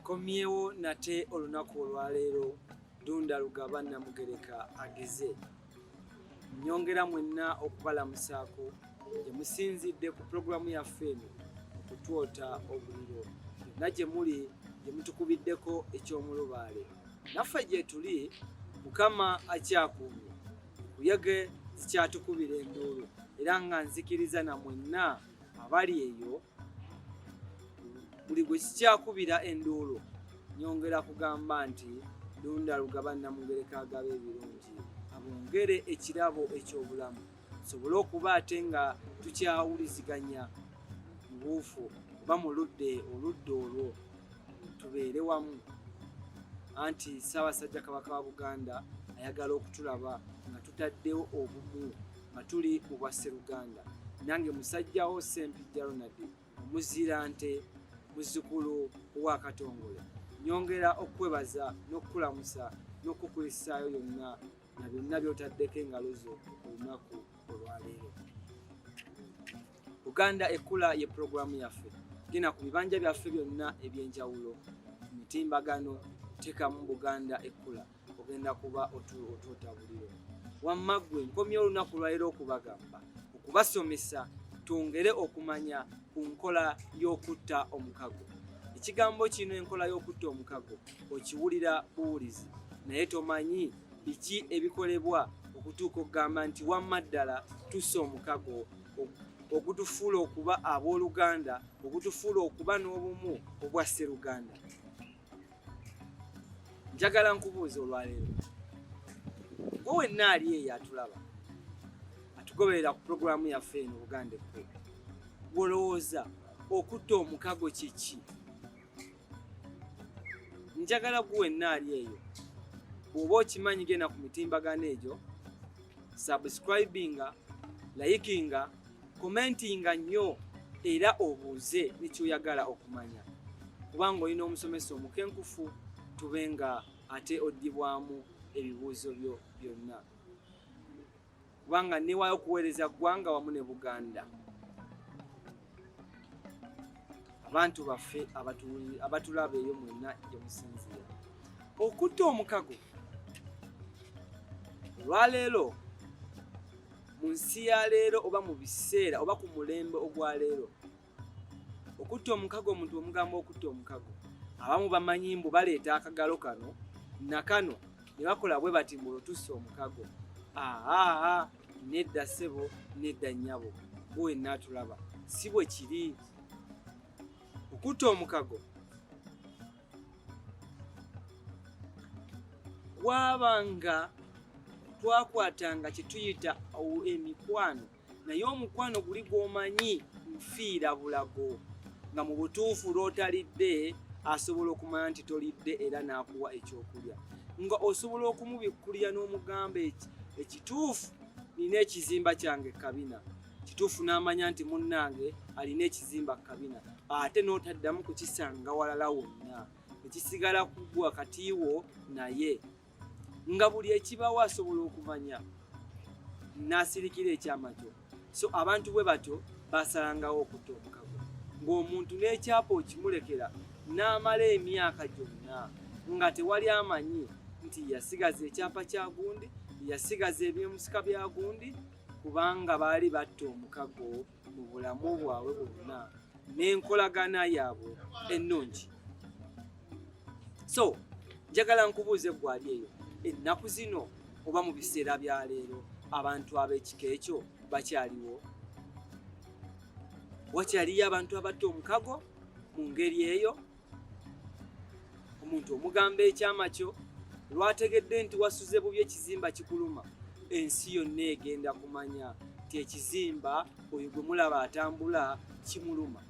Nkomyewo nate olunaku olwaleero Ddunda Lugaba Nnamugereka ageze nnyongera mwenna okubalamusaako gye musinzidde ku pulogulaamu yaffe eno okutwota obuliro yonna gye muli gye mutukubiddeko eky'omulubaale naffe gye tuli mukama akyakuumye kuyege zikyatukubira enduulu era nga nzikiriza na mwenna abali eyo buli gwe kikyakubira enduulu nyongera kugamba nti lunda lugaba namugereka agaba ebirungi abongere ekirabo ekyobulamu tusobole okuba ate nga tukyawuliziganya mubuufu oba muludde oludde olwo tubeere wamu anti ssaabasajja kabaka wa buganda ayagala okutulaba nga tutaddewo obumu nga tuli mu bwa sseruganda nange musajjawo sempijja ronald omuzira nte muzzukulu wa katongole nyongera okukwebaza n'okukulamusa n'okukulisaayo yonna na byonna byotaddeko engalo zo olunaku olwaleero uganda ekkula ye pulogulaamu yaffe genda ku bibanja byaffe byonna eby'enjawulo mitimbagano teekamu buganda ekkula ogenda kuba otuuta buliro wamma ggwe nkomye olunaku lwaliro okubagamba okubasomesa twongere okumanya ku nkola y'okutta omukago ekigambo kino enkola y'okutta omukago okiwulira buwulizi naye tomanyi biki ebikolebwa okutuuka okugamba nti wamma ddala tusa omukago ogutufuula okuba abooluganda ogutufuula okuba n'obumu obwa sseruganda njagala nkubuuza olwaleero gwe wenna ali eyo atulaba atugoberera ku pulogulaamu yaffe eno buganda ekku gwolowooza okutta omukago kyeki njagala gwe wenna ali eyo bw'oba okimanyi genda ku mitimbagano egyo subscribinga layikinga komentinga nnyo era obuuze nekyoyagala okumanya kubanga olina omusomesa omukenkufu tube nga ate oddibwamu ebibuuzo byo byonna kubanga newaayo okuweereza ggwanga wamu ne buganda abantu baffe abatulaba eyo mwenna gyemusinziira okutta omukago olwaleero mu nsi ya leero oba mu biseera oba ku mulembe ogwa leero okutta omukago omuntu omugamba okutta omukago abamu bamanyi mbu baleeta akagalo kano nakano ne bakola bwe bati mbu otusse omukago aa nedda ssebo nedda nnyabo buwenna atulaba si bwe kiri okutta omukago kwabanga twakwatanga kyetuyita emikwano naye omukwano guli gwomanyi nfiira bulago nga mu butuufu lwotalidde asobola okumanya nti tolidde era n'akuwa ekyokulya nga osobola okumubikkulira n'omugamba eki ekituufu nina ekizimba kyange kabina kituufu n'amanya nti munnange alina ekizimba ku kabina ate n'otaddamu kukisanga walala wonna ekisigala kugwa kati wo naye nga buli ekibawo asobola okumanya n'asirikira ekyama kyo so abantu bwe batyo basalangawo okutta omukago ng'omuntu n'ekyapa okimulekera n'amala emyaka gyonna nga tewali amanyi nti yasigaza ekyapa kya gundi yasigaza ebyemusika bya gundi kubanga baali batta omukago mu bulamu bwabwe bwonna n'enkolagana yaabwe ennungi so njagala nkubuuza eggwali eyo ennaku zino oba mu biseera bya leero abantu ab'ekika ekyo bakyaliwo wakyaliyo abantu abatta omukago mu ngeri eyo omuntu omugamba ekyama kyo lwategedde nti wasuze bubi ekizimba kikuluma ensi yonna egenda kumanya nti ekizimba oyo gwe mulaba atambula kimuluma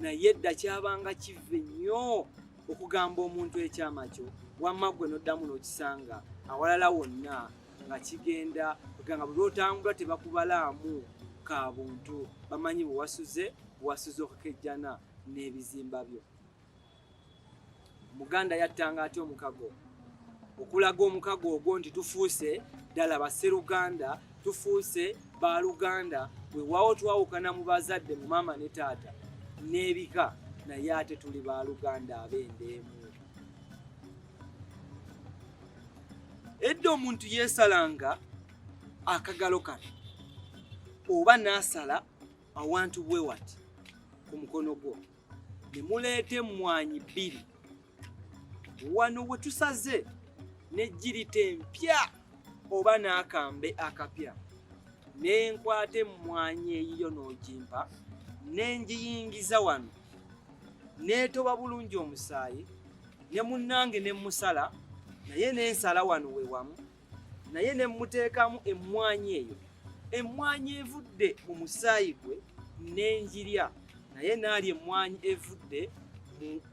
naye dda kyabanga kivve nnyo okugamba omuntu ekyama kyo wamma gwe noddamu n'okisanga awalala wonna nga kigenda kuganga buli lwotambula tebakubalaamu ka buntu bamanyi bwewasuze bwewasuze okukejjana n'ebizimba byo. Omuganda yattanga atya omukago? Okulaga omukago ogwo nti tufuuse ddala basseruganda, tufuuse baaluganda, weewaawo twawukana mu bazadde mu maama ne taata n'ebika, naye ate tuli baaluganda ab'enda emu. Edda omuntu yeesalanga akagalo kano oba n'asala awantu bwe wati ku mukono gwo ne muleeta emmwanyi bbiri wano we tusaze n'ejjirita empya oba n'akambe akapya ne nkwata emmwanyi eyiyo n'ogimpa ne ngiyingiza wano neetoba bulungi omusaayi ne munnange ne musala naye n'ensala wano we wamu naye ne mmuteekamu emmwanyi eyo emmwanyi evudde mu musaayi gwe n'engirya naye naali emmwanyi evudde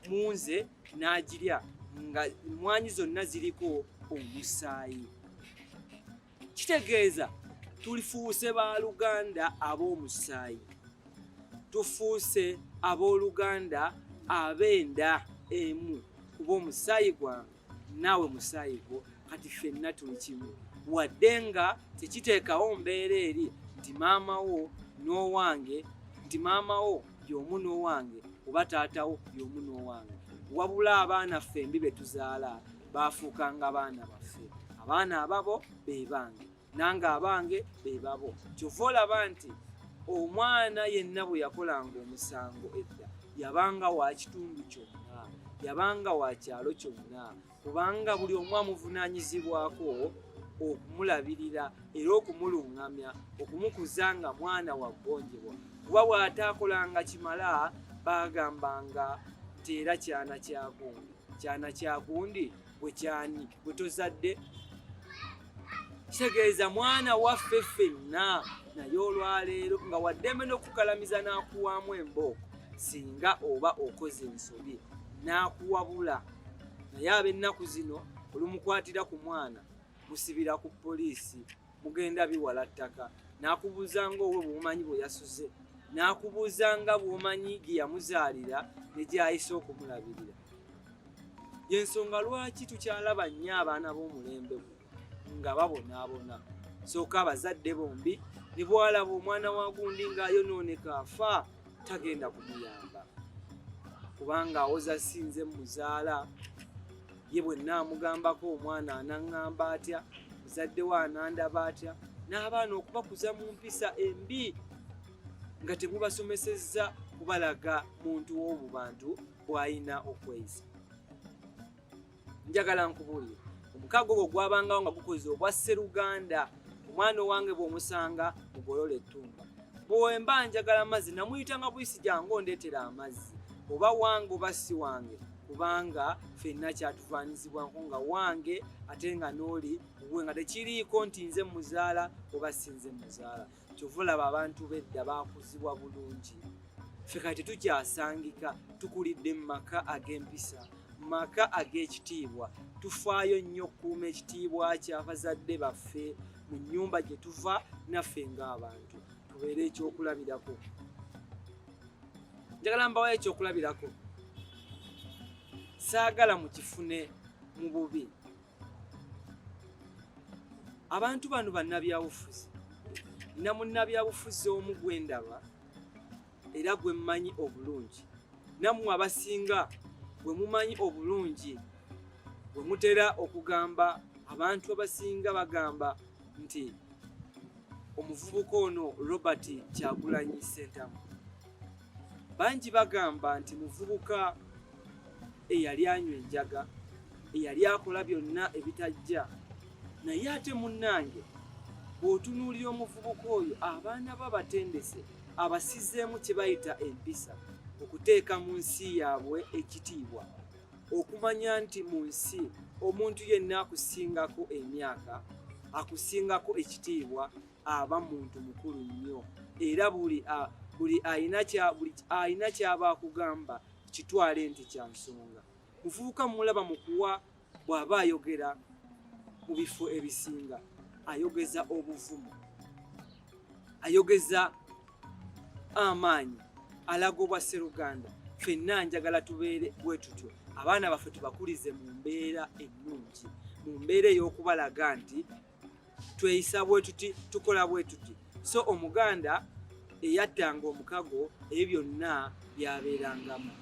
mu nze n'agirya nga emmwanyi zonna ziriko omusaayi kitegeeza tulifuuse ba luganda ab'omusaayi tufuuse ab'oluganda ab'enda emu kuba omusaayi gwange naawe musaayi gwo kati fenna tuli kimu wadde nga tekiteekawo mbeera eri nti maama wo n'owange nti maama wo y'omu n'owange oba taata wo y'omu n'owange wabula abaana ffembi be tuzaala baafuukanga baana baffe abaana ababo be bange nange abange bebabo kyova olaba nti omwana yenna bwe yakolanga omusango edda yabanga wa kitundu kyonna yabanga wa kyalo kyonna kubanga buli omu amuvunaanyizibwako okumulabirira era okumulungamya okumukuza nga mwana waggonjebwa kuba bw'ataakolanga kimala baagambanga nti era kyana kyagundi kyana kyagundi bwe kyani gwe tozadde kitegeeza mwana waffe ffenna naye olwaleero nga waddembe n'okukalamiza n'akuwaamu embooko singa oba okoze ensobi n'akuwabula naye ab'ennaku zino olumukwatira ku mwana musibira ku poliisi mugenda biwala ttaka n'akubuuza nga owe bwomanyi bwe yasuze n'akubuuza nga bwomanyi gye yamuzaalira ne gyayise okumulabirira yensonga lwaki tukyalaba nnyo abaana b'omulembe nga babonaabona sooka abazadde bombi ne bwalaba omwana wa gundi ng'ayonooneka afa tagenda kumuyamba kubanga awoza sinze muzaala ye bwe nnaamugambako omwana anaŋŋamba atya muzaddewo anandaba atya n'abaana okubakuza mu mpisa embi nga temubasomesezza kubalaga muntu w'obu bantu bw'alina okweyisa njagala nkubuulire omukaago ogwo gwabangawo nga gukoze obwa sseruganda omwana owange bw'omusanga mugolola ettumba bwemba njagala amazzi namuyitanga buyisi gyange ondeetera amazzi oba wange oba si wange kubanga fenna kyatufaanyizibwa nko nga wange ate nga n'oli we nga tekiriiko nti nze muzaala oba si nze muzaala kyova olaba abantu bedda baakuzibwa bulungi ffe kati tetukyasangika tukulidde mu maka ag'empisa mu maka ag'ekitiibwa tufaayo nnyo okukuuma ekitiibwa ky'abazadde baffe mu nnyumba gye tuva naffe ng'abantu tubeere ekyokulabirako njagala mbawo ekyokulabirako saagala mukifune mu bubi abantu bano bannabyabufuzi nina munnabyabufuzi omu gwe ndaba era gwe mmanyi obulungi nammwe abasinga bwe mumanyi obulungi bwe mutera okugamba abantu abasinga bagamba nti omuvubuka ono Robert Kyagulanyi Ssentamu bangi bagamba nti muvubuka eyali anywa enjaga eyali akola byonna ebitajja naye ate munnange bw'otunuulira omuvubuka oyo abaana ba batendese abasizeemu kye bayita empisa okuteeka mu nsi yaabwe ekitiibwa okumanya nti mu nsi omuntu yenna akusingako emyaka akusingako ekitiibwa aba muntu mukulu nnyo era buli buli alina kyaba akugamba kitwale nti kya nsonga muvubuka mulaba mu kuwa bw'aba ayogera mu bifo ebisinga ayogeza obuvumu ayogeza amaanyi alaga obwa sseruganda fenna njagala tubeere bwe tutyo abaana baffe tubakulize mu mbeera ennungi mu mbeera ey'okubalaga nti tweyisa bwe tuti tukola bwe tuti so omuganda eyattanga omukago ebyo byonna byabeerangamu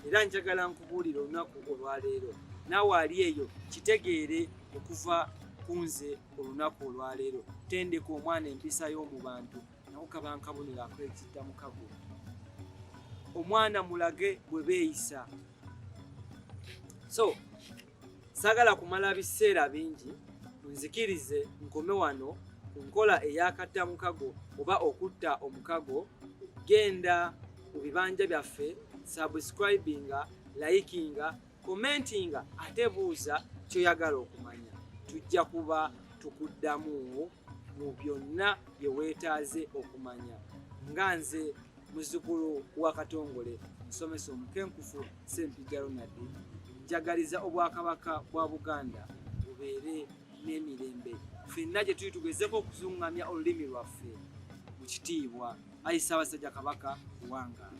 era njagala nkubuulira olunaku olwaleero naawe ali eyo kitegeere okuva ku nze olunaku olwaleero tendeka omwana empisa y'omu bantu nawo kaba nkabonero akwekidda mukago omwana mulage bwe beeyisa so sagala kumala biseera bingi nzikirize nkome wano ku nkola eyakatta mukago oba okutta omukago genda mu bibanja byaffe subscribinga likinga Commentinga ate buuza kyoyagala okumanya tujja kuba tukuddamu mu byonna bye weetaaze okumanya nga nze muzzukulu wa katongole musomesa omukenkufu sempija ronald njagaliza obwakabaka bwa buganda bubeere n'emirembe fenna gye tuli tugezeko okuzungamya olulimi lwaffe mu kitiibwa ayi ssaabasajja kabaka kuwangala